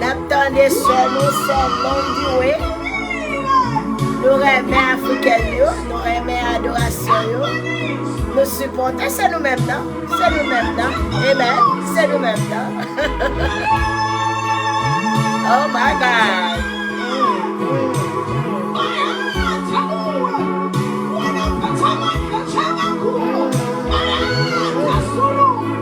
Nap tande sè nou sè londiwe nou renmen afrikèn yo nou renmen adorasyon yo nou sipòte se nou menm nan se nou menm nan amen se nou menm nan oh my god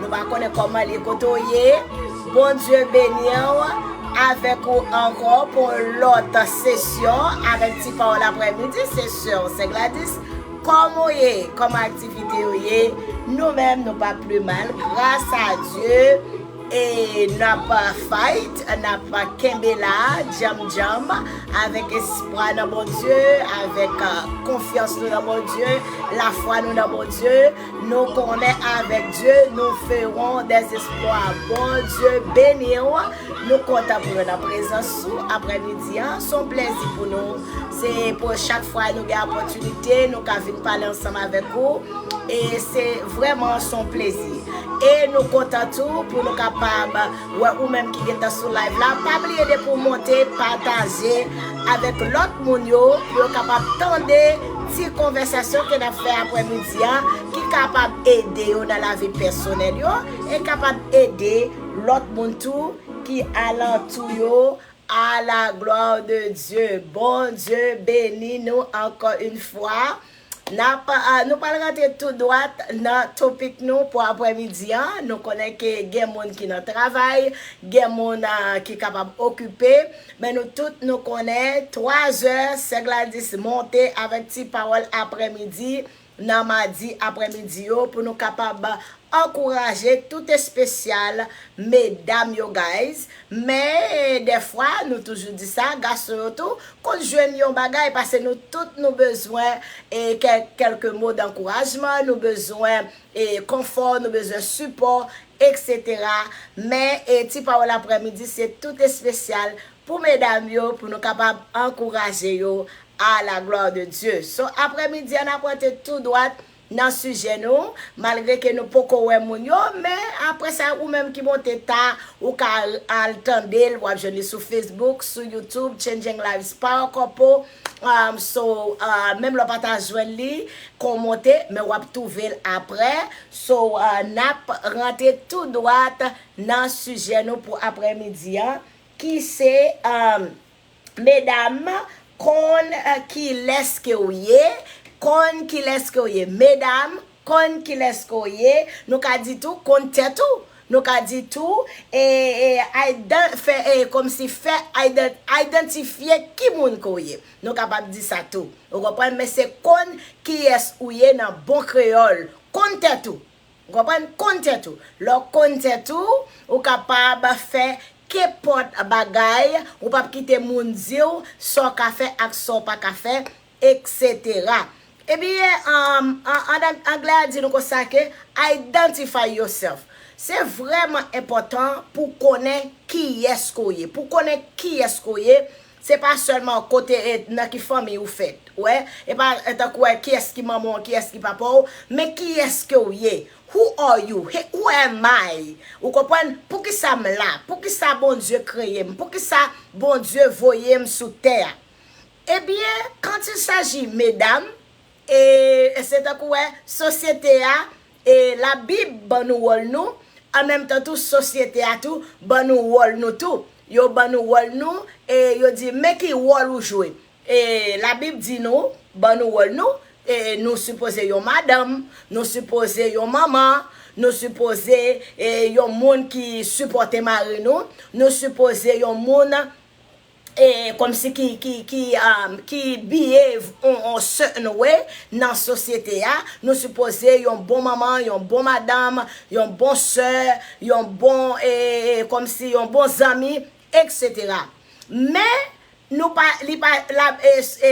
Nou pa konnen koman li kote ou ye Bondye beniw avèk ou ankò pou yon lòt sesyon avèk ti pawòl aprè midi se sèw sè Gladys kòman ou ye kòman aktivite yo ye nou menm nou pa pli mal gras a Dye e nap fight nap kenbe la djanm djanm avèk espwa nan Bondye avèk konfyans nou nan Bondye lafwa nou nan Bondye. Nou konnen avèk Dye nou feron des esplwa Bondye beniw nou kontan pou nou nan prezans ou aprè midi an son plèzi pou nou se pou chak fwa nou gen apòtinite nou ka vin pale ansanm avèk ou e se vrèman son plezi e nou kontan tou pou nou kapab Wè ou menm ki gentan sou live la pa bliye depi ou monte pataje avèk lòt moun yo pou yo kapab tande ti konvèsasyon ke nap fè aprè midi a ki kapab ede yo nan lavi pèsonèl yo e kapab ede lòt moun tou ki alantou yo a la gloire de Dieu Bondye beni nou ankò yn fwa. Nap, nou pral rantre tou dwat nan topic nou pou aprè midi an, nou konnen ke gen moun ki nan travay, gen moun ki kapab okipe, men nou tout nou konnen 3 zè sè Gladys monte avèk ti pawòl aprè midi nan madi aprè midi yo pou nou kapab ankouraje tout espesyal medam yo guys, Men, dèfwa, nou toujou di sa, gason yo tou, konn jwenn yon bagay, pase nou tout nou bezwen kèlke mo dankourajman, nou bezwen konfò, nou bezwen sipò, eksetera. Men, ti pawòl aprèmidi se tout espesyal pou medam yo, pou nou kapab ankouraje yo, a la glwa de Dye. So, aprèmidi an ap rantre tou dwat Nan sijè nou, malgre ke nou poko wè moun yo, men apre sa ou menm ki monte ta, ou ka al tande l, w ap jwenn li sou Facebook, sou YouTube, Changing Lives Power Couple, so menm lè w pa ta jwenn li kon w monte, men w ap twouve l apre, so n ap rantre tou dwat nan sijè nou pou aprè midi an ki se. Medam konn kilès ke w ye Konn kilès ke w ye Medam konn kilès ke w ye Nou ka di tou konn tèt ou Nou ka di tou e idan fè e kòmsi fè idan idantifye ki moun ke w ye Nou kapab di sa tou ou konprann men se konn kiyès ou ye nan bon kreyòl Konn tèt ou Ou konprann? Konn tèt ou. Lè w konn tèt ou, ou kapab fè kenpòt bagay, ou pap kite moun di w sa w ka fè ak sa w pa ka fè, eksetera. Ebyen, an anglè a di nou konsa ke identify yourself. Se vrèman enpòtan pou w konnen kiyès ke w ye. Pou w konnen kiyès ke w ye, Se pa sèlman kote e nan ki fanmiy ou fèt, wè, e pa tankou wè kiyès ki manman w, kiyès ki papa w, men kiyès ke w ye, who are you, he, who am I, ou konprann, poukisa m la, poukisa Bondye kreye m, poukisa Bondye voye m sou tè a. Ebyen, quand il s'agit medam, e se tankou wè sosyete a, E Labib ban nou wòl nou, an menm tan tou sosyete a tou ban nou wòl nou tou. Yo ban nou wòl nou e yo di, men ki wòl ou jwe. E Labib di nou, ban nou wòl nou, e nou sipoze yon madanm, nou sipoze yon manman, nou sipoze yon moun ki sipòte mari nou, nou sipoze yon moun Komsi ki behave on certain way nan sosyete a, nou sipoze yon bon manman, yon bon madanm, yon bon sè, yon bon komsi yon bon zanmi etc. Men nou pa li pa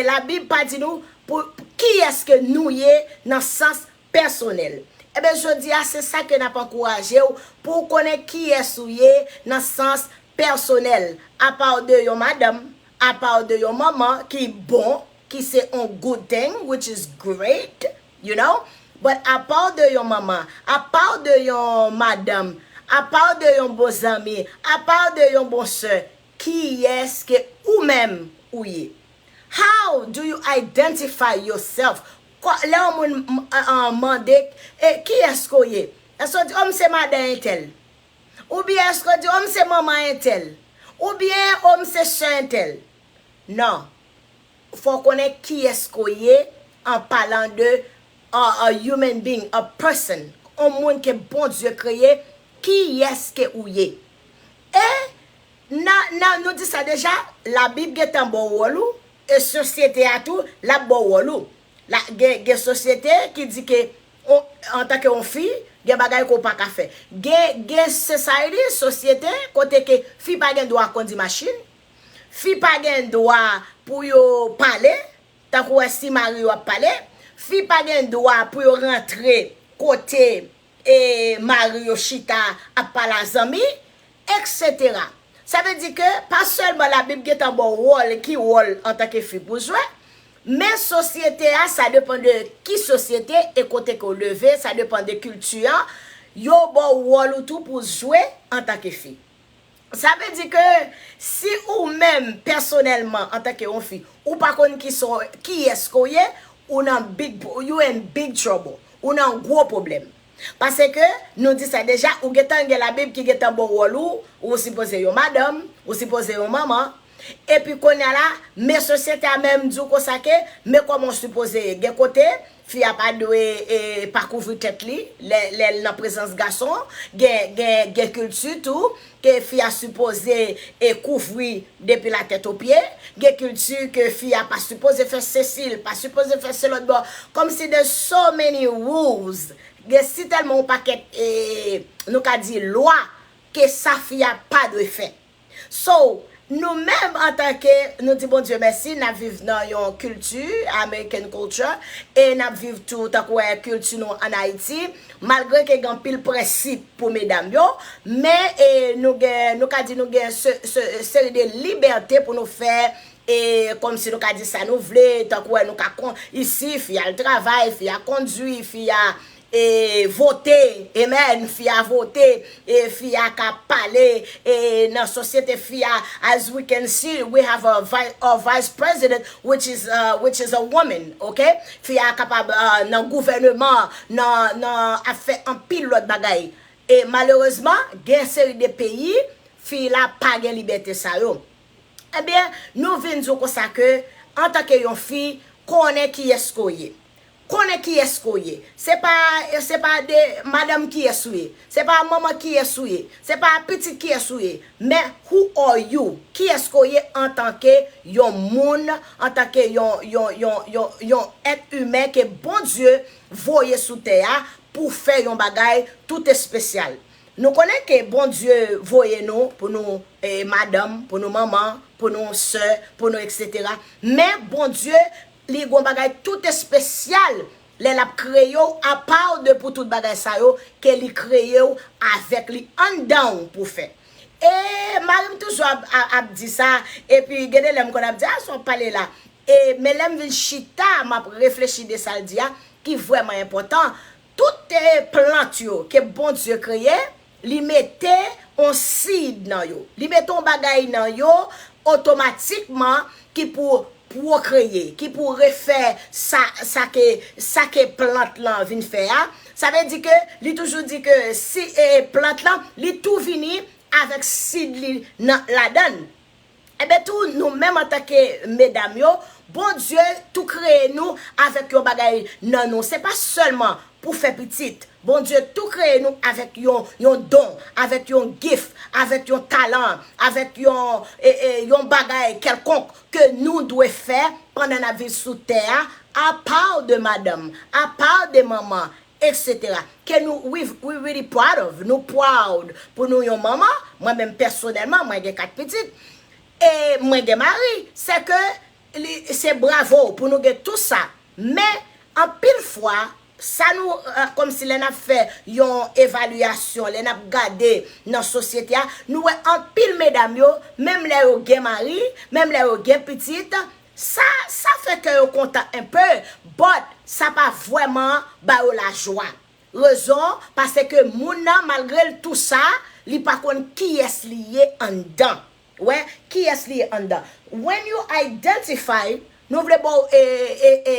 labib pa di nou pou kiyès ke nou ye nan sans pèsonèl. Enben jodi a se sa ke n ap ankouraje w pou w konnen kiyès ou ye nan sans pèsonèl. Apa w de yon madanm, apa w de yon manman ki bon, ki se yon good thing, which is great, you know, but apa w de yon manman, apa w de yon madanm, apa w de yon bon zanmi, apa w de yon bon sè, kiyès ke ou menm ou ye? How do you identify yourself? Kò, lè yon moun mande, E, kiyès ke w ye? Èske w di, O, m se madan entèl? Oubyen èske w di, O, m se manman entèl? Oubyen, O, m se sè entèl? Non. Fò w konnen kiyès ke w ye an palan de a human being, a person, yon moun ke Bondye kreye, kiyès ke ou ye? E, nan, nan, nou di sa deja, Labib gentan ba w wòl ou, E sosyete a tou lap baw wòl ou. La gen gen sosyete ki di ke on antanke on fi gen bagay ke w pa ka fè. Gen gen society, sosyete, kote ke fi pa gen dwa kondi machin, fi pa gen dwa pou yo pale, tankou wè si mari yo ap pale, fi pa gen dwa pou yo rantre kote e mari yo chita ap pale a zanmi, eksetera. Sa vle di ke pa sèlman Labib gen tan ba w wòl, ki wòl antanke fi pou w jwe, men sosyete a, sa depan de ki sosyete e kote ke w leve, sa depan de kilti an, yo ba w wòl ou tou pou w jwe antanke fi. Sa vle di ke si ou menm pèsonèlman antanke yon fi, ou pa konn kisa w, kiyès ke w ye, ou nan big, you in big trouble. Ou nan gwo pwoblèm. Pase ke, nou di sa deja, ou gen tan gen labib ki gen tan ba w wòl ou, ou sipoze yon madanm, ou sipoze yon manman, epi kounye a la, men sosyete a menm di w konsa ke, men kòman w sipoze ye. Gen kote, Fi a pa dwe pa kouvri tèt li lè l nan prezans gason. Gen kilti tou ke fi a sipoze kouvri depi latèt opye. Gen kilti ke fi a pa sipoze fè sesi, li pa sipoze fè se lòtbò. Kòmsi there's so many rules, gen sitèlman yon pakèt nou ka di lwa ke sa fi a pa dwe fè. So, nou menm antanke, nou di Bondye mèsi, n ap viv nan yon kilti, American culture, e n ap viv tou tankou wè kilti nou an Ayiti, malgre ke gen anpil prensip pou medam yo, men e nou gen, nou ka di nou gen se, se seri de libète pou nou fè e kòmsi nou ka di sa nou vle, tankou wè nou ka kon, isi, fi a al travay, fi a kondui, fi a e vote amen fi a vote e fi a ka pale e nan sosyete fi a as we can see we have a our vice president which is which is a woman ok fi a kapab nan gouvèneman an nan nan ap fè anpil lòt bagay e malerezman gen yon seri de peyi fi la pa gen libète sa yo ebyen nou vin di w konsa ke antanke yon fi konnen kiyès ke w ye Konnen kiyès ke w ye. Se pa, se pa de madanm kiyès ou ye. Se pa manman kiyès ou ye. Se pa pitit kiyès ou ye. Men who are you? Kiyès ke w ye antanke yon moun, antanke yon, yon, yon, yon, yon èt imen ke Bondye voye sou tè a pou fè yon bagay tout espesyal. Nou konnen ke Bondye voye nou pou nou madanm, pou nou manman, pou nou sè, pou nou eksetera. Men Bondye Li gon bagay tout espesyal lè lap kreyew apaw de pou tout bagay sa yo ke li kreyew avèk li anndanw pou fè ee marim toujou ap di sa epi gen de lè m konn ap di a sa wap pale la ee men lèm vin chita map reflechi de sal di a ki vrèman enpòtan toute plant yo ke Bondye kreye Li mete on seed nan yo. Li mete on bagay nan yo otomatikman ki pou pwokreye, ki pou refè sa, sa ke, sa ke plant lan vin fè a. Sa vle di ke, li toujou di ke si e plant lan, li tou vini avèk seed li nan, ladan l. Enben tou nou menm antanke medam yo, Bondye tou kreye nou avèk yon bagay nan nou. Se pa sèlman pou fè pitit. Bondye tou kreye nou avèk yon yon don, avèk yon gif, avèk yon talan, avèk yon yon bagay kèlkonk ke nou dwe fè pandan n ap viv sou tè a, apaw de madanm, apaw de manman, Etc ke nou we really proud of nou proud pou nou yon manman mwen menm pèsonèlman mwen gen 4 pitit e mwen gen mari se ke li se bravo pou nou gen tou sa men anpil fwa sa nou komsi lè nap fè yon evalyasyon lè nap gade nan sosyete a nou wè anpil medam yo menm lè yo gen mari menm lè yo gen pitit Sa sa fè kè yo kontan un peu, but sa pa vweman ba yo lajwa. Rezon, pase ke moun nan malgre l tou sa, li pa konn kiyès li ye anndan. Wè, kiyès li ye anndan. When you identify, nou vle ba w e, e, e,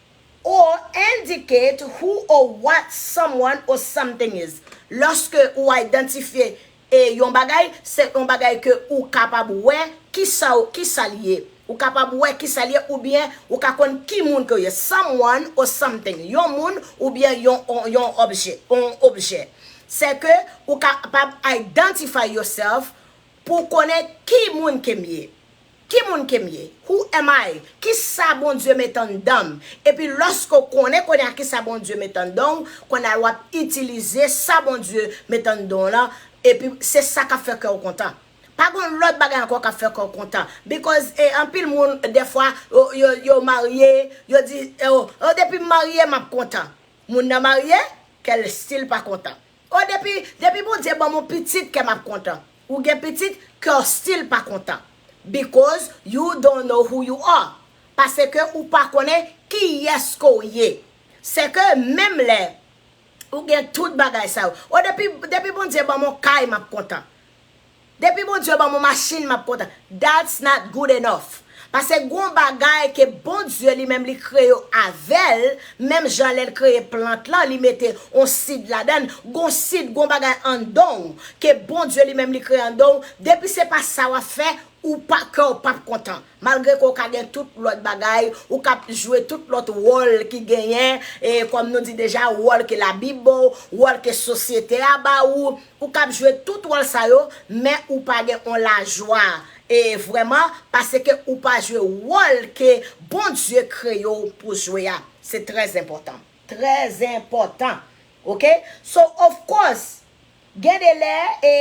Or, indicate who or what someone or something is. Lòske ou idantifye e yon bagay, se yon bagay ke ou kapab wè kisa ou kisa li ye. Ou kapab wè kisa li ye oubyen ou ka konn ki moun ke ou ye. Someone or something. Yon moun oubyen yon yon obje, yon objè. Se ke ou kapab identify yourself Pou w konnen ki moun ke m ye. Ki moun ke m ye? Who am I? Ki sa Bondye met anndan m? Epi lòske w konnen kounye a ki sa Bondye met anndan w, kounye a l w ap itilize sa Bondye met anndan w lan, epi se sa k ap fè kè w kontan. Pa gen yon lòt bagay ankò k ap fè kè w kontan. Because e anpil moun dèfwa yo yo marye, yo di, o, o depi m marye m ap kontan. Moun nan marye, kè l still pa kontan. Oh depi depi Bondye banm on pitit kèm ap kontan ou gen pitit kèw still pa kontan because you don't know who you are paseke ou pa konnen kiyès ke w ye sèke menm lè ou gen tout bagay sa yo oh depi depi Bondye banm on kay map kontan Depi Bondye banm yon machine map kontan that's not good enough pase gon bagay ke Bondye li menm li kreye avèl menm jan lèl kreye plant lan li mete yon seed ladann gon seed gon bagay andanw ke Bondye li menm li kreye andanw depi se pa sa wap fè ou pa kèw pap kontan Malgre ke w ka gen tout lòt bagay, ou kab jwe tout lòt wòl ki genyen, e kòm nou di deja, wòl ke Labib ba w, wòl ke sosyete a ba ou, ou kab jwe tout wòl sa yo, men ou pa gen yon lajwa e vrèman, paske ou pa jwe wòl ke Bondye kreye w pou jwe a. Se trèzenpòtan. Trèzenpòtan. Ok? So, of course, Gen de lè, e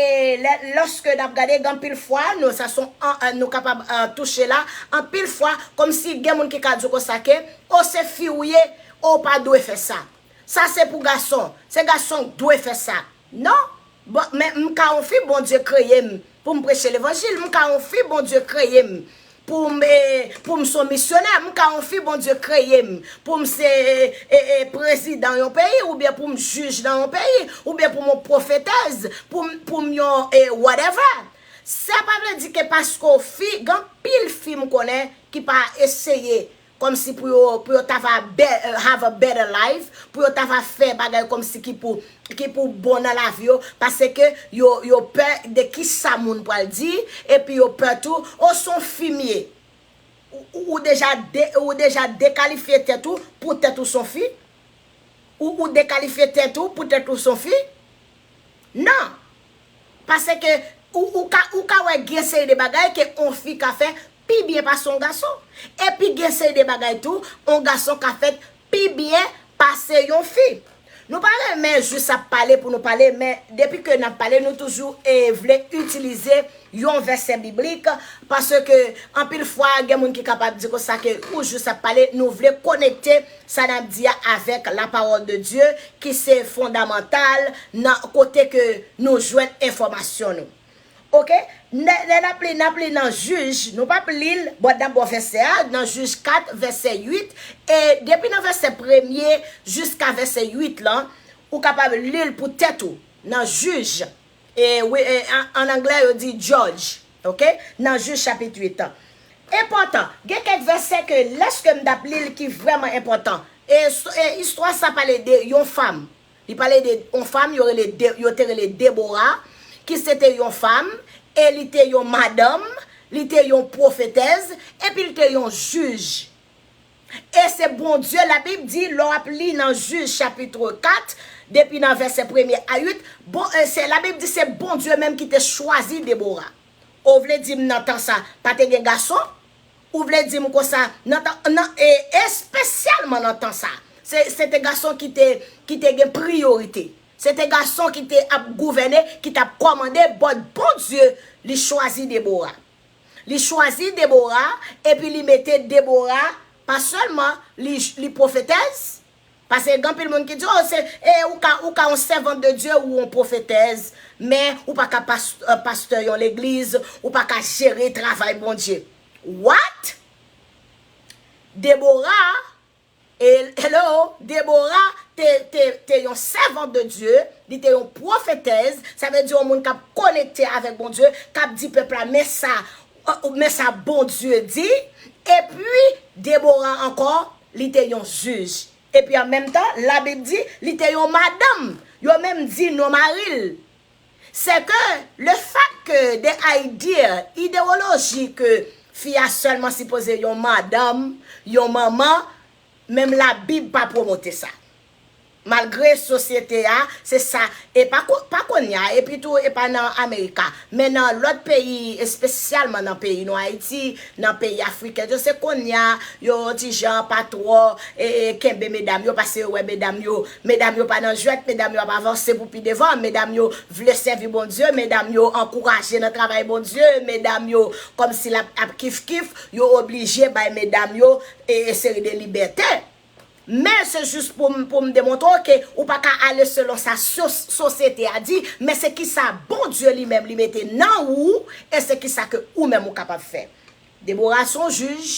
lè, lòske nap gade, gen anpil fwa, nou, sa son an, nou kapab touche la, anpil fwa, kòmsi gen moun ki ka di w konsa ke, o se fi ou ye, o ou pa dwe fè sa. Sa se pou gason, se gason k dwe fè sa. Non! Bon, men m ka on fi Bondye kreye m pou m preche levanjil, m ka on fi Bondye kreye m Poum e poum son misyonè m ka yon fi Bondye kreyem poum se e e prezidan yon peyi oubyen poum jij nan yon peyi oubyen poum yon pwofetèz poum poum yon e whatever sa pa vle di ke paske w fi gen anpil fi m konnen ki pa eseye Kòmsi pou yo, pou yo ta va be, have a better life, pou yo ta va fè bagay kòmsi ki pou, ki pou bon nan lavi yo, paseke yo, yo pè de kisa moun pral di, epi yo pè tou, o son fi m ye? Ou, ou deja de, ou deja dekalifye tèt ou poutèt ou son fi? Ou, ou dekalifye tèt ou poutèt ou son fi? Non! Paseke ou, ou ka, ou ka wè gen seri de bagay ke on fi ka fè pi byen pase yon gason. Epi gen seri de bagay tou yon gason ka fèt pi byen pase yon fi. Nou pa renmen jis ap pale pou nou pale men depi ke n ap pale nou toujou vle itilize yon vèsè biblik paske anpil fwa gen moun ki kapab di konsa ke ou jis ap pale nou vle konekte sa n ap di a avèk la pawòl de Dye ki se fondamantal nan kote ke nou jwenn enfòmasyon nou. Ok lè nap li nap li nan jij nou pap lil bò nan bò vèsè a nan jij 4 vèsè 8 e depi nan vèsè premye jiska vèsè 8 lan ou kapab lil pou tèt ou nan jij e wi an anglè yo di judge ok nan jij chapit 8 an enpòtan gen kèk vèsè ke lèske m tap lil ki vrèman enpòtan e istwa sa pale de yon fam Li pale de yon fanm yo rele yo te rele Debora ki se te yon fanm e li te yon madanm, li te yon pwofetèz epi li te yon jij. E se Bondye labib di lè w ap li nan jij chapitre 4 depi nan vèsè premye a 8 bon e se labib di se Bondye menm ki te chwazi Debora. Ou vle di m nan tan sa pa te gen gason? Ou vle di m konsa, nan tan, nan, e espesyalman nan tan sa a, se, se te gason ki te, ki te gen priyorite. Se te gason ki te ap gouvène, ki t ap kòmande, but Bondye, li chwazi Debora. Li chwazi Debora, epi li mete Debora, pa sèlman li, li pwofetèz, Pase gen anpil moun ki di oh se e ou ka ou ka yon sèvant de Dieu ou yon profetèz men ou pa ka pas pastè yon legliz ou pa ka jere travay Bondye what? Deborah hello Deborah te te te yon sèvant de Dieu li te yon profetèz sa vle di yon moun kap konekte avèk Bondye kap di pèp la men sa Oh men sa Bondye di, Epi, Debora ankò, li te yon jij. Epi an menm tan, Labib di, li te yon madanm. Yo menm di non mari l. Sèke, lefètke de ide, idewoloji ke fi a sèlman sipoze yon madanm, yon manman, menm Labib pa pwomote sa. Malgre sosyete a, se sa, e pa ko, pa kounye a, epi tou e pa nan Amerika, men nan lòt peyi, espesyalman nan peyi nou Ayiti, nan peyi Afriken yo, se kounye a, yo yon ti jan pa twò e, kenbe medam yo, pase yo wè medam yo, medam yo pa nan jwèt, medam yo ap avanse pou pi devan, medam yo vle sèvi Bondye, medam yo ankouraje nan travay Bondye, medam yo kòmsi l ap, ap kif kif, yo oblije bay medam yo e, e seri de libète. Men se jis pou m demontre w ke ou pa ka ale selon sa sosyete a di, men se kisa Bondye li menm li mete nan ou e se kisa ke ou menm ou kapab fè. Debora se yon jij,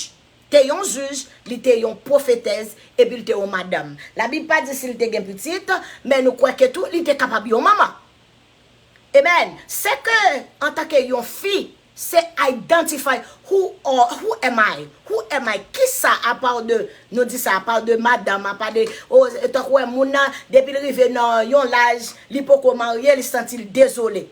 te yon jij, li te yon pwofetèz epi li te yon madanm. Labib pa di si li te gen pitit, men nou kwè ke tou li te kapab yon manman. Amen se ke antanke yon fi se identify who are who am I who am I kisa apaw de nou di sa apaw de madanm apa de o tankou wè moun nan depil rive nan yon laj li poko marye li santil dezole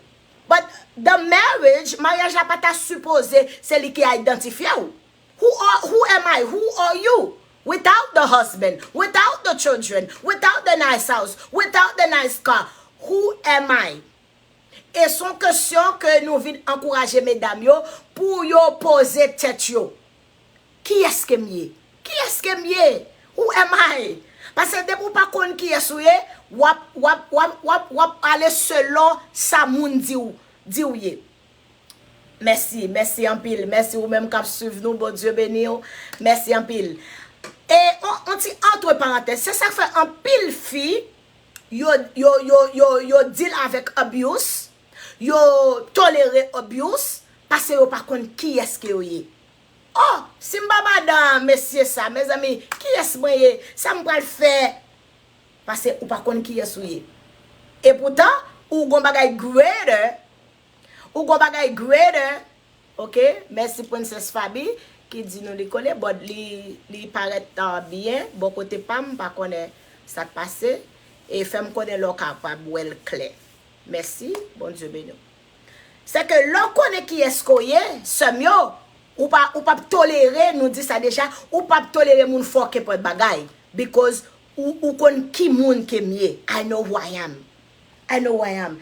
but the marriage maryaj la pata sipoze se li ki identifyew Who are, who am I, who are you, without the husband, without the children, without the nice house, without the nice car, who am I? E son kesyon ke nou vin ankouraje medam yo pou yo poze tèt yo. Kiyès ke m ye? Kiyès ke m ye? Who am I? Pase depi w pa konn kiyès ou ye, w ap, w ap, w ap, w ap, w ap ale selon sa moun di w, di w ye. Mèsi, mèsi anpil, mèsi ou menm kap swiv nou Bondye beniw, mèsi anpil E on ti antre parantèz se sak fè anpil fi yo yo yo yo yo deal avèk abuse yo tolere abuse pase yo pa konn kiyès ke yo ye Oh sim pa madan a mesye sa mezanmi kiyès mwen ye sam pral fè pase ou pa konn kiyès ou ye e poutan ou gon bagay greater Ou gon bagay greater ok mèsi princess faby ki di nou li konnen but li parèt byen bò kote pam m pa konnen sak pase e fèm konnen lè w kapab wèl klè mèsi Bondye beni w se ke lè w konnen kiyès ke w ye sèm yo ou pa ou pap tolere nou di sa deja ou pap tolere moun fòkè pòt bagay because ou konn ki moun ke m ye I know who I am I know who I am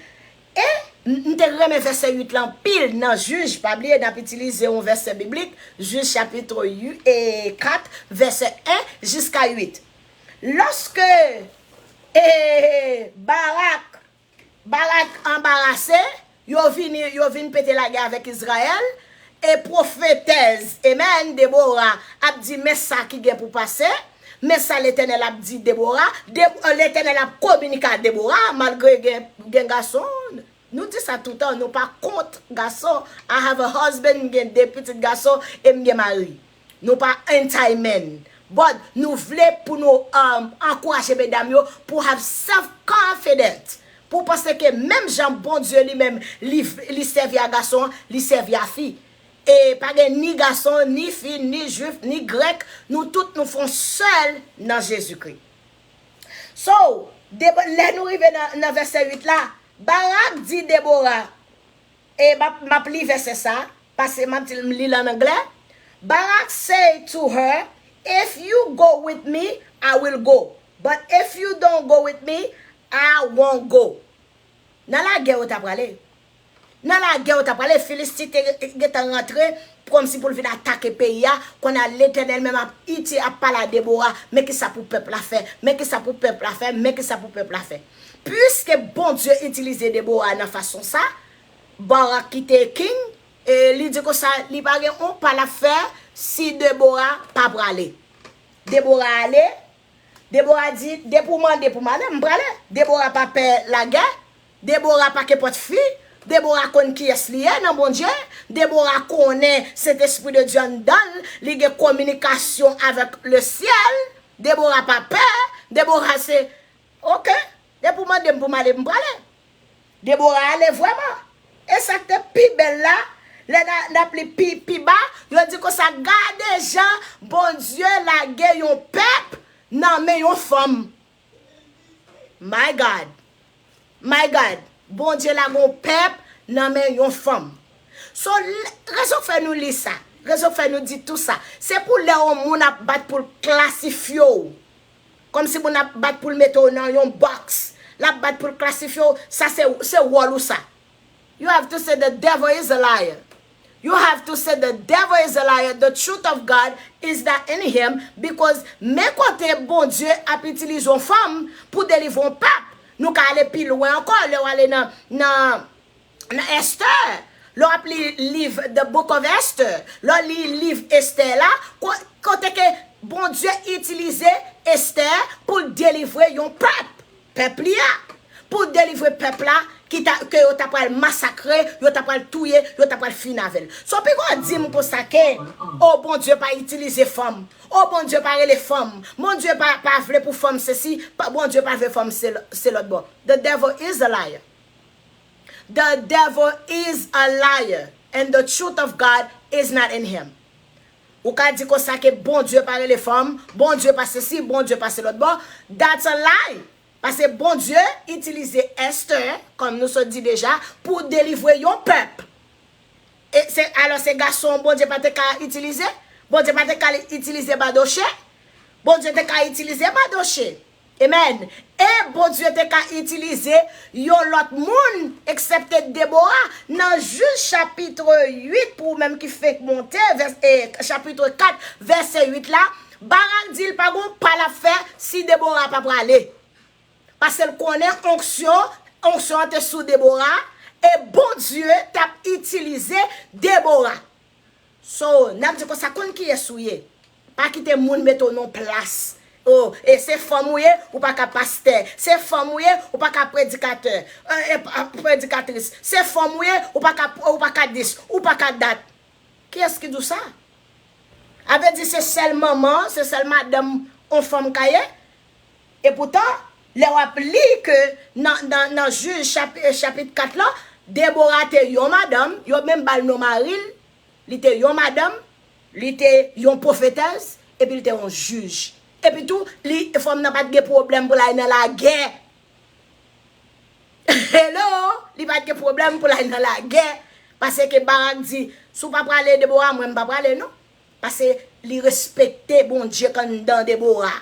E m te renmen vèsè 8 la anpil nan Jij Pa bliye n ap itilize yon vèsè biblik Jij chapitro 4 vèsè 1 jiska 8 Lòske e Barak Barak anbarase Yo vini, yo vin pete lagè avèk Izrayèl, e pwofetèz, amen, Debora ap di, Men sa ki gen pou pase, men sa Letènèl ap di Debora, Letènèl ap kominike a Debora, malgre gen gason, nou di sa toutan, nou pa kont gason, I have a husband, m gen de pitit gason, e m gen mari. Nou pa anti men. But nou vle pou nou ankouraje medam yo pou have self confident. Pou panse ke menm jan Bondye li menm li sèvi a gason an, li sèvi a fi. E pa gen ni gason, ni fi, ni jwif, ni grèk, nou tout nou fon sèl nan Jezikri. So, lè nou rive nan vèsè 8 la, Barak di Debora. E m ap li vèsè sa a, pase m ap di l, m li l an anglè, Barak say to her, If you go with me, I will go, but if you don't go with me, I won't go. Nan lagè yo t aprale. Nan lagè yo t aprale, Filisti te gen tan rantre kòmsi pou l vin atake peyi a, kounye a Letènèl menm ap iti, ap pale a Debora, Men ki sa pou pèp la fè, men ki sa pou pèp la fè, men ki sa pou pèp la fè. Pliske Bondye itilize Debora nan fason sa, Barak ki te king, li di konsa, li pa gen yon pa lap fè si Debora pa prale. Debora ale, Debora di, depi w mande pou m ale, m prale. Debora pa pè lagè, Debora pa kenpòt fi, Debora konn kiyès li ye nan Bondye, Debora konnen Sentespri de Dye anndan l, li gen kominikasyon avèk Lesyèl, Debora pa pè, Debora se. Ok! Depi ou mande m pou m ale, m prale. Deborah ale vrèman. E sa k te pi bèl la, lè n ap li pi ba, yo di konsa, Gade jan Bondye lage yon pèp nan men yon fanm. My God! My God! Bondye lage yon pèp nan men yon fanm. So, rezon k fè nou li sa, rezon k fè nou di tou sa, se pou lè yon moun ap bat pou l klasifye w, Kòm si moun ap bat poul mete w nan yon box, lap bat poul klasifye w, sa se, se wòl ou sa. You have to say the devil is a liar You have to say the devil is a liar the truth of God is not in him because men kote Bondye ap itilize yon fanm pou delivre yon pèp, nou ka ale pi lwen ankò lè w ale nan, nan nan Estè, lè w ap li liv The Book of Esther, lè w li liv Estè la, kote ke Bondye itilize Estè pou l delivre yon pèp, pèp li a, pou l delivre pèp la ki ta, ke yo ta pral masakre, yo ta pral touye, yo ta pral fini avè l. So piko w di m konsa ke, o Bondye pa itilize fanm, o Bondye pa rele fanm, Bondye pa, pa vle pou fanm sesi, Bondye pa vle fanm se, se lòtbò. The devil is a liar. The devil is a liar and the truth of God is not in him. Ou ka di konsa ke Bondye pa rele fanm, Bondye pa sesi, Bondye pa selotbo, that's a lie! Pase Bondye itilize Esther, kom nou sot di deja, pou delivre yon pèp. E se alo se gason Bondye pa te ka itilize? Bondye pa te ka itilize Badoche? Bondye te ka itilize Badoche. Amen E Bondye te ka itilize yon lòt moun eksepte Debora nan Juge chapitre 8 pou ou menm ki fenk monte chapitre 4 verset 8 la Barak di l pa gon pa l ap fè si Debora pa prale paske l konnen onksyon onksyon an te sou Debora e Bondye t ap itilize Debora So nap di konsa konn kiyes ou ye pa kite moun mete w nan yon plas oh e se fanm ou ye ou paka pastè se fanm ou ye ou paka predikatè eh predikatris se fanm ou ye ou paka ou paka dis ou paka dat kiyes ki di w sa a vle di se sèl manman se sèl madanm on fanm ka ye E poutan, lè w ap li ke nan nan Jij chapit 4 lan, Debora te yon madanm, yo menm ba l non mari l, li te yon madanm, li te yon pwofetèz, epi li te yon jij. Epi tou, li, fanm nan pa t gen pwoblèm pou l ale nan lagè. Hello! Li pa t gen pwoblèm pou l ale nan lagè, paseke Barak di, Si w pa prale, Debora, mwen m pa prale non. Pase li respekte Bondye kanndan Debora.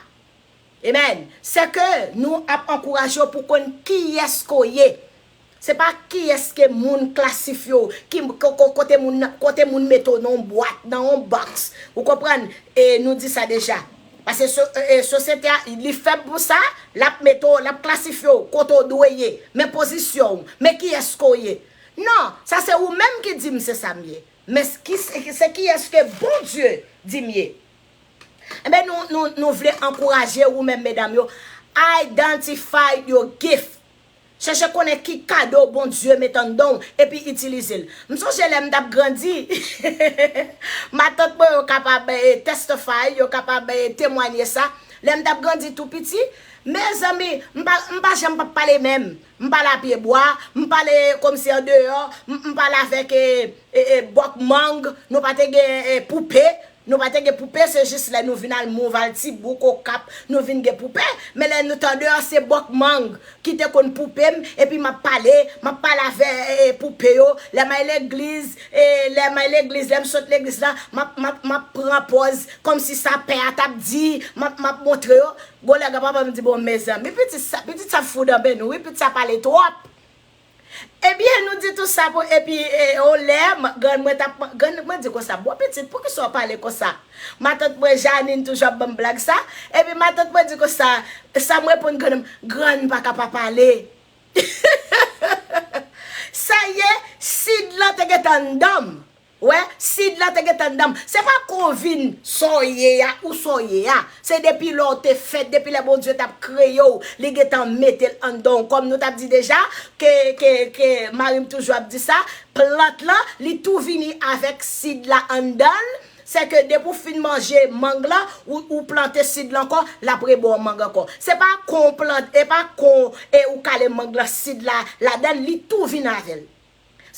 Amen. Se ke nou ap ankouraje w pou konn kiyes ke w ye. Se pa kiyes ke moun klasifye w, ki kote moun nan, kote moun mete w nan yon bwat, nan yon box. Ou konprann? E nou di sa deja. Pase sosyete a, li fèb pou sa, l ap mete w, l ap klasifye w kote w dwe ye. Men pozisyon w, men kiyes ke w ye. Non, sa se ou menm ki di m se sa m ye. Men se kiyès ke Bondye di m ye? Enben nou vle ankouraje ou menm medam yo, identify your gift. Chèche konnen ki kado Bondye met anndan w epi itilize l. M sonje lè m t ap grandi, matant mwen yo kapab testify, yo kapab temwanye sa, lè m t ap grandi tou piti, mezanmi, m pa janm p ap pale menm. M pale a pye bwa, m pale komsi an deyò, m pale avèk bòk mang, nou pa te gen poupe, nou pa te gen poupe se jis lè nou vin al Mouv, al Tibouk, Okap, nou vin gen poupe, men lè nou te an deyò se bòk mang ki te konn poupe m epi m ap pale, m ap pale avè poupe yo, lè m al legliz, lè m al legliz, lè m sot legliz la, m ap pran pòz komsi sa pè a t ap di, m ap montre yo, Gole aga papa m di bon mezanmi pitit sa pitit sa fou danbe nou wi pit sa pale trop ebyen nou di tou sa pou epi ou lè m grann mwen tap grann mwen di konsa bon pitit poukisa ou pale konsa matant mwen Janine toujou ap banm blag sa epi matant mwen di konsa sa m reponn grann m grann pa ka pa pale heheheheh sa ye Sid lan te gentan andanm Ou wè, Sid la te gentan nan m. Se pa kou w vin sa w ye a, ou sa w ye a. Se depi lè w te fèt, depi lè Bondye t ap kreye w, li gentan mete l anndan w. Kòm nou t ap di deja, ke, ke, ke, mari m toujou ap di sa, plant lan, li tou vini avèk sid la anndan l, sèke depi w fin manje mang lan, ou, ou plante sid lan ankò, l ap reba w mang ankò. Se pa kon w plant, e pa kon e ou kale mang lan, sid la ladan l, li tou vin avè l.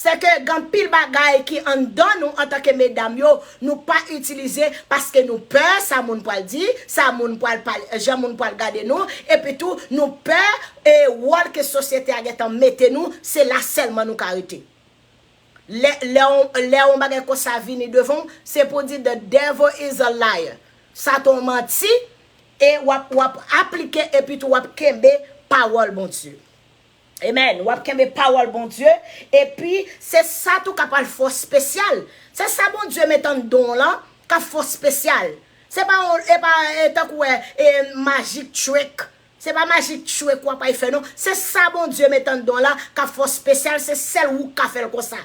Se ke gen anpil bagay ki anndan nou antanke medam yo, nou pa itilize paske nou pè sa moun pwal di, sa moun pwal pale, jan moun pwal gade nou, epi tou nou pè e wòl ke sosyete a gentan mete nou, se la sèlman nou ka rete. Lè, lè on, lè on bagay konsa vini devan w, se pou w di the devil is a liar, Satan on manti, e wap, wap aplike epi tou wap kenbe pawòl Bondye. Amen wap kenbe pawol Bondye epi se sa tou kap al fè w spesyal se sa Bondye met andan w lan kap fè w spesyal se pa yon e pa tankou e e magic trick se pa magic trick wap al fè non se sa Bondye met andan w lan kap fè w spesyal se sèl wou ka fè l konsa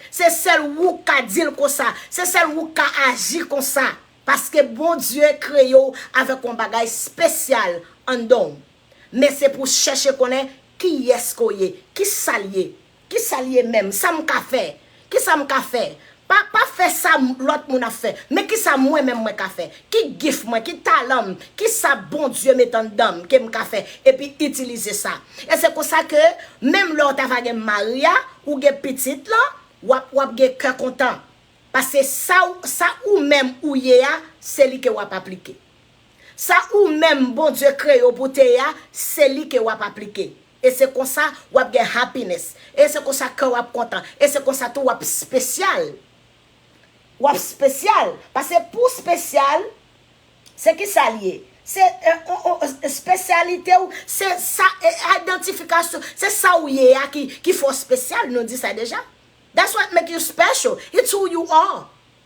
se sèl wou ka di l konsa se sèl wou ka aji konsa paske Bondye kreye w avèk yon bagay spesyal andan w. men se pou chèche konnen kiyès ke w ye, ki sa l ye, ki sa l ye menm, sa m ka fè, ki sa m ka fè, pa pa fè sa lòt moun ap fè, men ki sa mwen menm mwen ka fè, ki gif mwen, ki talan m, ki sa Bondye met anndan m ke m ka fè, epi itilize sa. E se konsa ke menm lè w ta va gen mari a, ou gen pitit lan, w ap, w ap gen kè kontan. Paske sa w, sa ou menm ou ye a, se li ke w ap aplike. Sa ou menm Bondye kreye w pou te ye a, se li ke wap aplike. E se konsa wap gen happiness. E se konsa kè w ap kontan. E se konsa tou wap spesyal. Wap spesyal. Pase pou w spesyal, se kisa li ye? Se spesyalite w, se sa, identification, se sa w ye a ki fè w spesyal, nou di sa deja. That's what make you special. It's who you are.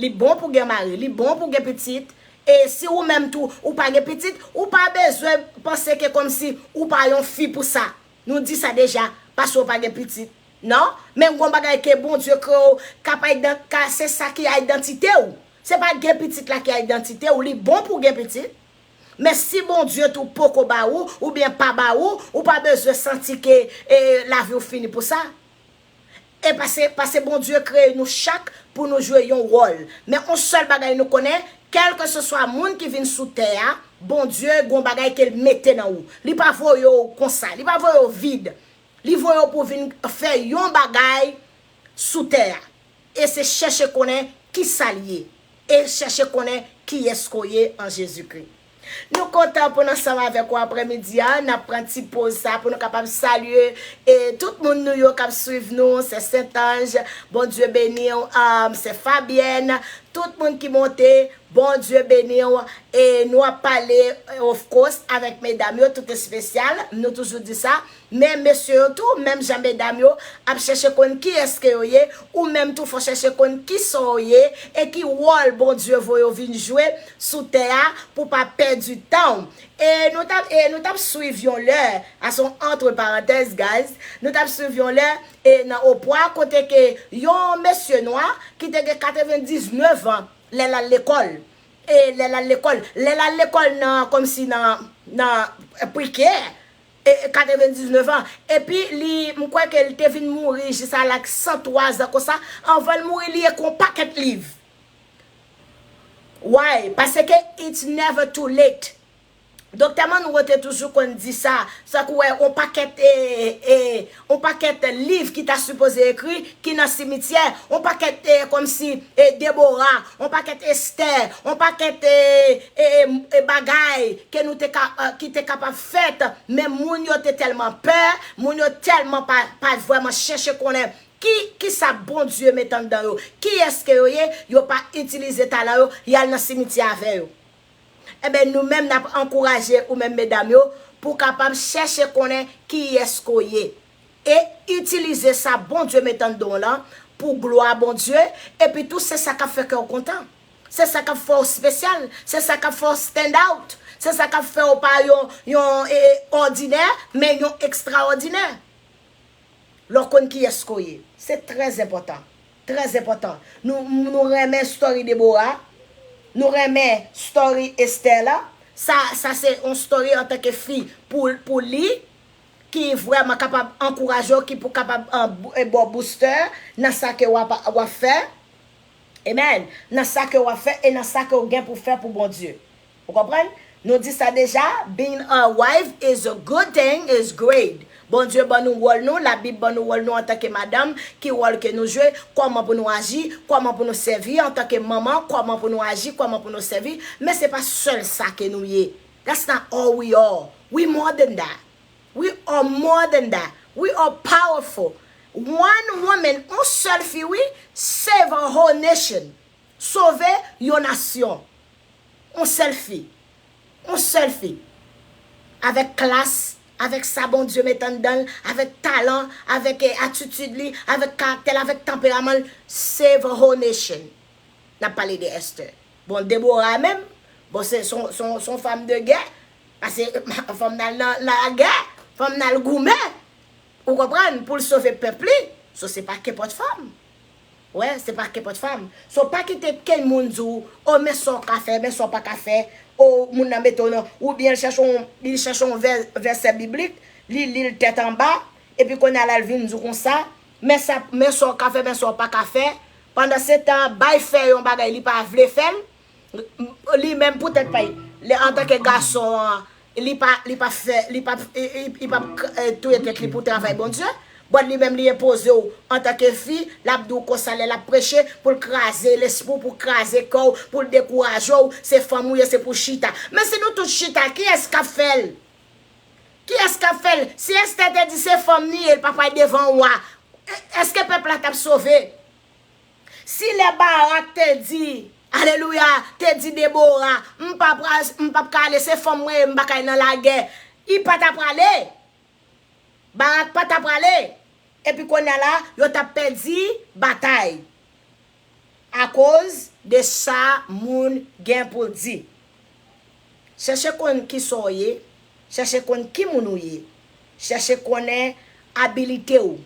Li bon pou gen mari, li bon pou gen pitit, e si ou menm tou ou pa gen pitit, ou pa bezwen panse ke kòmsi ou pa yon fi pou sa. Nou di sa deja, paske ou pa gen pitit. Non, men gon bagay ke Bondye kreye w k ap idan, ka se sa ki idantite w. Se pa gen pitit la ki idantite w, li bon pou w gen pitit, men si Bondye tou poko ba ou, oubyen pa ba ou, ou pa bezwen santi ke e lavi w fini pou sa. E pase, pase Bondye kreye nou chak pou nou jwe yon wòl. Men yon sèl bagay nou konnen, kèlkeseswa moun ki vin sou tè a, Bondye gen yon bagay ke l mete nan ou. Li pa voye w konsa. Li pa voye w vid. Li voye w pou w vin fè yon bagay sou tè a. E se chèche konnen kisa l ye. E chèche konnen kiyès ke w ye an Jezikri. Nou kontan pou n ansanm avèk ou aprè midi a, nap pran ti poz sa pou nou kapab salye e tout moun nou yo kap swiv nou, sè sentanj Bondye beniw ahm sè fabyèn tout moun ki monte Bondye beniw e nou ap pale ofkos avèk medam yo tout espesyal nou toujou di sa. Men mesye yo tou, menm jan medam yo ap chèche konn kiyès ke yo ye, ou menm tou fò chèche konn kisa w ye e ki wòl Bondye voye w vin jwe sou tè a pou w pa pèdi tan w. E nou t ap e nou t ap swiv yon lè, a son entre parenthèse guys, nou t ap swiv yon lè e nan Opwa kote ke yon mesye nwa ki te gen 99 an lè l al lekòl e lè l al lekòl lè l al lekòl nan kòmsi nan nan pre-care, 99 an, epi li, m kwè ke li te vin mouri jis a lak 103 zan konsa, anvan l mouri li ekri on pakèt liv. Why? Paseke it's never too late. Doktè Monroe te toujou konn di sa, sa k ou wè on pakèt e, e, On pakèt liv ki ta sipoze ekri ki nan simityè, on pakèt kòmsi Debora, on pakèt Estè, on pakèt bagay ke nou te ka, ki te kapab fèt, men moun yo te tèlman pè, moun yo tèlman pa, pa vrèman chèche konnen ki, kisa Bondye met anndan yo, kiyès ke yo ye, yo pa itilize talan yo, y al nan simityè avè yo. Enben nou menm n ap ankouraje ou menm medam yo pou w kapab chèche konnen kiyès ke w ye e itilize sa Bondye mete anndan w lan pou glwa Bondye epi tou se sa k ap fè kè w kontan, se sa k ap fè w spesyal, se sa k ap fè w stand out, se sa k ap fè w pa yon yon òdinè men yon ekstraòdinè. Lè w konn kiyès ke w ye, se trèzenpòtan. Très enpòtan Nou Nou renmen story Deborah Nou renmen story Esther la Sa sa se yon story antanke fi pou pou li Ki vrèman kapab ankouraje w ki pou kapab ba w booster Nan sa ke wap wap fè Amen Nan sa ke wap fè e nan sa ke w gen pou fè pou Bondye. Ou konprann? Nou di sa deja, being a wife is a good thing, is great. Bondye ban nou wòl nou, labib ban nou wòl nou antanke madanm, ki wòl ke nou jwe, kòman pou nou aji, kòman pou nou sèvi antanke manman, kòman pou nou aji, kòman pou nou sèvi, men se pa sèl sa ke nou ye. That's not all we are. We more than that. We are more than that. We are powerful. One woman, on sèl fi wi, save a whole nation. Sove yon nasyon. On sèl fi. On sèl fi. Avèk klas, avèk sa Bondye met anndan l, avèk talan, avèk atitid li, avèk karaktè l, avèk tanperaman l. Save a whole nation. N ap pale de Esther. Bon, Deborah menm, bon se yon fanm de gè. Pase fò m al nan lagè. Fò m al goumen. Ou konprann? Pou l sove pèp li. So se pa kenpòt fanm. Wè se pa kenpòt fanm. So pa kite kenn moun di w oh men sa w ka fè, men sa w pa ka fè, oh moun nan mete w nan, oubyen l chèche yon, li chèche yon vè, vèsè biblik, li li l tèt anba, epi kounye a la l vin di w konsa, men sa, men sa w ka fè, men sa w pa ka fè, pandansetan bay fè yon bagay li pa vle fè l, Li menm pou tèt pay li antanke gason an li pa li pap fè li pap li pap touye tèt li pou travay Bondye but li menm li enpoze w antanke fi lap di w konsa lè lap preche pou l kraze lespri w pou l kraze kè w pou l dekouraje w se fanm ou ye se pou chita men si nou tout chita kiyès kap fè l kiyès kap fè l si Esther te di se fanm li ye l pa pral devan wa èske pèp la tap sove. Si lè Barak te di, alelouya, te di Debora, m pa pral, m pap ka ale, se fanm mwen ye, m pa ka ale nan lagè, li pa ta prale. Barak pa ta prale. Epi kounye a la, yo t ap pèdi batay akoz de sa moun gen pou l di. Chèche konn ki sa w ye, chèche konn ki moun ou ye, chèche konnen abilite w,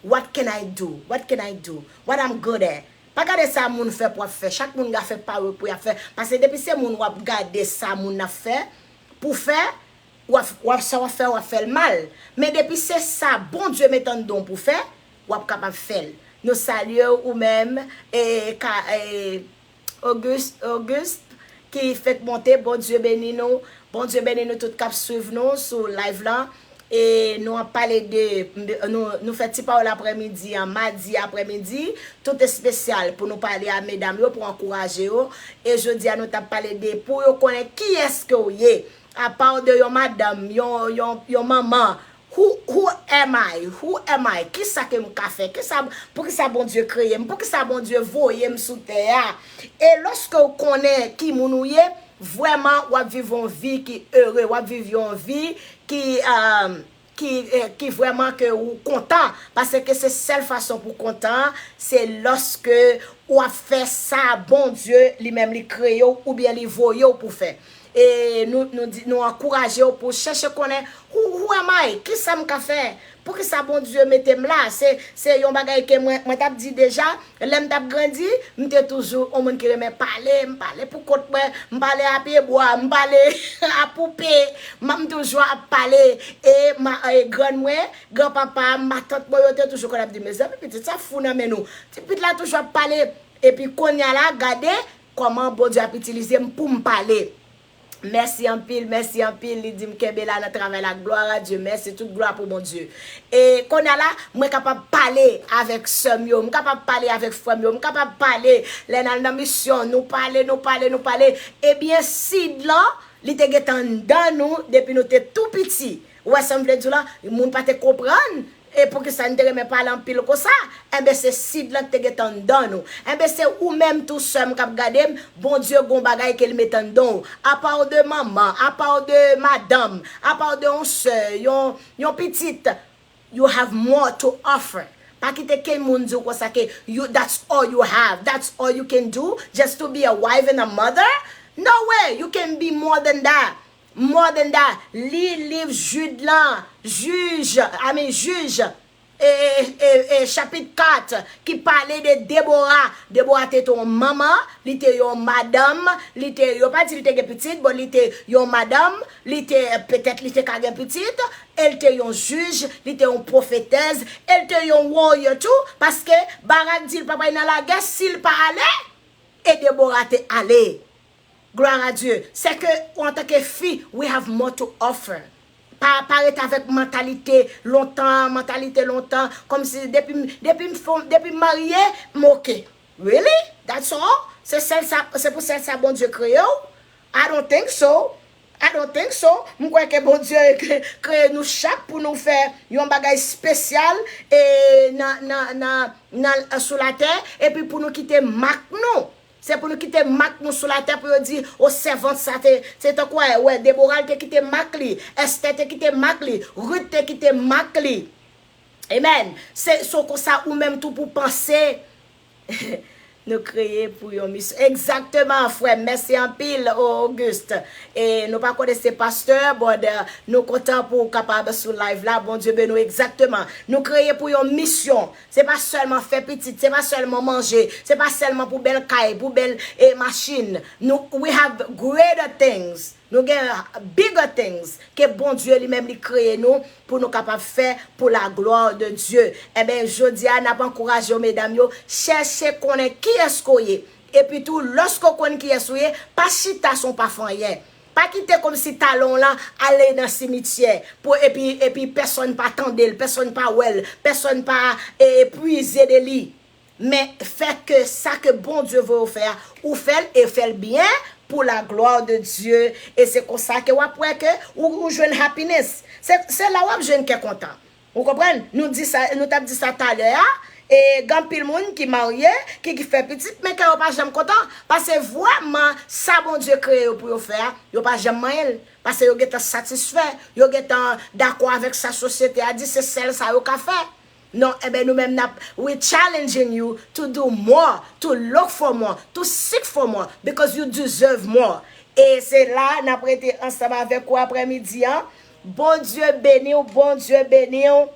what can I do, what can I do, what I'm good at. Pa gade sa moun fè pou w ap fè, chak moun gen afè pa yo pou y ap fè, pase depi se moun w ap gade sa moun ap fè pou w fè, w ap sa w ap fè w ap fè l mal, men depi se sa Bondye met anndan w pou w fè, w ap kapab fè l. Nou salye w ou menm, e ka e. Auguste ki fenk monte Bondye beni nou Bondye beni nou tout kap swiv nou sou live lan e nou ap pale de nou fè ti pawòl aprè midi an madi aprè midi tout espesyal pou nou pale a medam yo pou ankouraje yo e jodi a nou tap pale de pou yo konnen kiyès ke w ye apaw de yon madanm yon manman Who who am I? Who am I? Kisa ke m ka fè? Kisa, poukisa Bondye kreye m? Poukisa Bondye voye m sou tè a? E lòske w konnen ki moun ou ye, vrèman w ap viv yon vi ki ere, w ap viv yon vi ki ki ki vrèman ke ou kontan. Paske se sèl fason pou w kontan an, se lòske w ap fè sa Bondye li menm li kreye w oubyen li voye w pou fè. E nou nou di nou ankouraje w pou w chèche konnen who who am I? Kisa m ka fè? Poukisa Bondye mete m la? Se se yon bagay ke mwen mwen t ap di deja lè m t ap grandi. M te toujou yon moun ki renmen pale. M pale pou kont mwen. M pale a pye bwa. M pale a poupe. M m toujou ap pale. E ma e grann mwen, gran papa m, matant mwen yo te toujou konn ap di m, Mezanmi pitit sa fou nan men nou. Ti pit la toujou ap pale. Epi kounye a la gade Koman Bondye ap itilize m poum pale. Mèsi anpil mèsi anpil li dim kenbe la nan travay la gloire à Dieu mèsi tout glwa pou Bondye e konya la mwen kapab pale avèk sèm yo m kapab pale avèk frèm yo m kapab pale lè nal nan misyon nou pale nou pale nou pale ebyen sid lan li te gentan anndan nou depi nou te tou piti ou wè sam vle diw la moun pa te konprann E poukisa n te renmen pale anpil konsa? Enben se Sid lan ki te gentan anndan nou. Enben se ou menm tou sè m k ap gade m, Bondye gon bagay ke l met anndan w. Apa w de manman, apa w de madanm, apa w de yon sè, yon, yon pitit, you have more to offer. Pa kite ken moun di w konsa ke you, that's all you have, that's all you can do, just to be a wife and a mother? No way! You can be more than that. Mordenda li liv Jud lan, Jij, I mean Jij, e, e, e chapit 4 ki pale de Debora. Debora te te yon manman, li te yon madanm, li te, yo pa di li te gen pitit, bon li te yon madanm, li te, petèt li te ka gen pitit, e li te yon jij, li te yon pwofetèz, e li te yon warrior tou, paske Barak di li pa pral nan lagè si li pa ale, e Debora te ale. Gloire à Dieu! Sè ke ou antanke fi, we have more to offer. Pa pa ret avèk mantalite lontan an, mantalite lontan, kòmsi depi m, depi m fon, depi m marye, m ok. Really? That's all? Se sèl sa, se pou sèl sa Bondye kreye w? I don't think so. I don't think so. M kwè ke Bondye kreye nou chak pou nou fè yon bagay spesyal e nan, nan, nan, nan sou latè epi pou nou kite mak nou. Se pou nou kite mak nou sou latè pou yo di, O sèvant sa te, se tankou a e wè, Debora te kite mak li, Estè te kite mak li, Rut te kite mak li. Amen. Se so konsa ou menm tou pou panse. Nou kreye pou yon misyon. Exactement frèm, mèsi anpil Auguste. E nou pa konnen se pastè, but nou kontan pou ou kapab sou live la. Bondye beni w exactement. Nou kreye pou yon misyon. Se pa sèlman fè pitit, se pa sèlman manje, se pa sèlman pou bèl kay, pou bèl e machin, nou we have greater things, nou gen bigger things ke Bondye li menm li kreye nou pou nou kapab fè pou la gloire de Dieu. Enben jodi a nap ankouraje w medam yo, chèche konnen kiyès ke w ye, epi tou lòske w konn kiyès ou ye, pa chita san w pa fè anyen. Pa kite kòmsi talan w lan ale nan simityè pou epi epi pèsòn pa tande l, pèsòn pa wè l, pèsòn pa e pwize de li. Men, fè ke sa ke Bondye voye w fè a, ou fè l e fè l byen pou laglwa de Dye. E se konsa ke w ap wè ke ou jwenn happiness. Se se la w ap jwenn kè kontan. Ou konprann? Nou di sa, nou tap di sa talè a, e gen anpil moun ki marye, ki ki fè pitit, men kè yo pa janm kontan, pase vrèman sa Bondye kreye yo pou yo fè a, yo pa janm manyen l, pase yo gentan satisfè, yo gentan dakò avèk sa sosyete a di, se sèl sa yo ka fè. Non, enben nou menm nap, we challenging you to do more, to look for more, to seek for more, because you deserve more. E se la nap rete ansanm avèk ou aprè midi an. Bondye beniw Bondye beniw.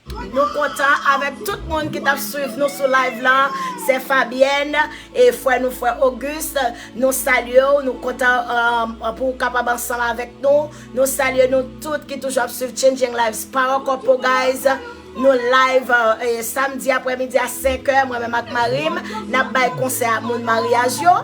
Nou kontan avèk tout moun ki tap swiv nou sou live la, sè Fabienne e frè nou frè Auguste nou salyew nou kontan pouw kapab ansanm avèk nou, nou salye nou tout ki toujou ap swiv changing lives pa ankò po guys. Nou live samdi aprè midi a 5 è mwen menm ak marim nap bay konsèy ak moun maryaj yo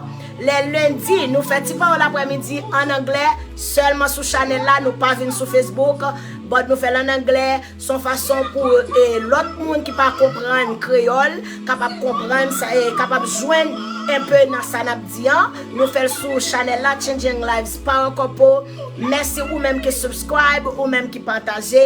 lè lendi nou fè ti pawòl aprè midi an anglè sèlman sou chanèl la nou pa vin sou facebook but nou fèl an anglè son fason pou lòt moun ki pa konprann kreyòl kapab konprann sa e kapab jwenn enpe nan sa nap di an nou fèl sou chanèl la changing lives power couple mèsi ou menm ki subscribe ou menm ki pataje